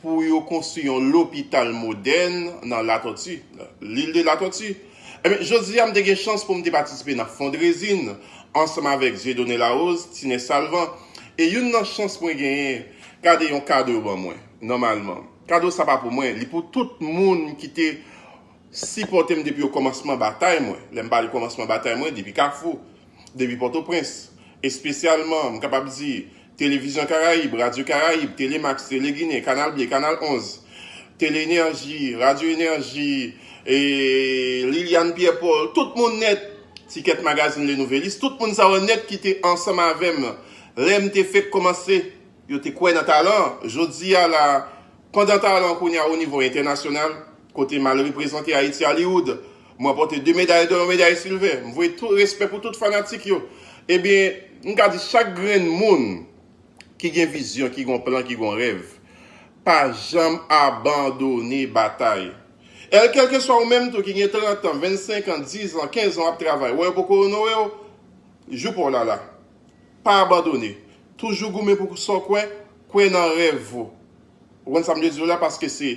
pou yo konstwi yon lopital modèn nan Latòti, L'Ile de la Tortue. Enben, jodi a m te gen chans pou m te patisipe nan fondrezin ansanm avèk Dieudonné Larose, Tine Salvan, e youn nan chans mwen genyen, gade yon kado yo ban mwen, nòmalman. Kado sa pa pou mwen, li pou tout moun ki te. Sipòte m depi okòmansman batay mwen. Lè m pale kòmansman batay mwen, depi Kafou, depi Pòtoprens. Espesyalman, m kapab di, Televizyon Karayib, Radyo Karayib, Tele Max, Tele Ginen, Kanal Ble, Kanal 11, Tele Enèji, Radyo Enèji, e Liliane Pierre Paul, tout moun nèt, Ticket Magazine Le Nouvelliste, tout moun sa yo nèt ki te ansanm avè m lè m te fèk kòmanse. Yo te kwè nan talan an. Jodi a la, pandan talan kounye a onivo entènasyonal, Kote mal reprezante Ayiti Hollywood. M ranpòte 2 meday dò yon meday silvè. M voye tout respè pou tout fanatik yo. Ebyen, m ka di chak grenn moun ki gen vizyon, ki gon plan, ki gon rèv, pa janm abandone batay. El kèlkeswa ou menm tou ki gen 30 an, 25 an, 10 an, 15 an w ap travay, wè yo poko onore w, jou pa w la la. Pa abandone. Toujou goumen pou sa w kwè, kwè nan rèv ou. Ou konn sa m vle di w la paske se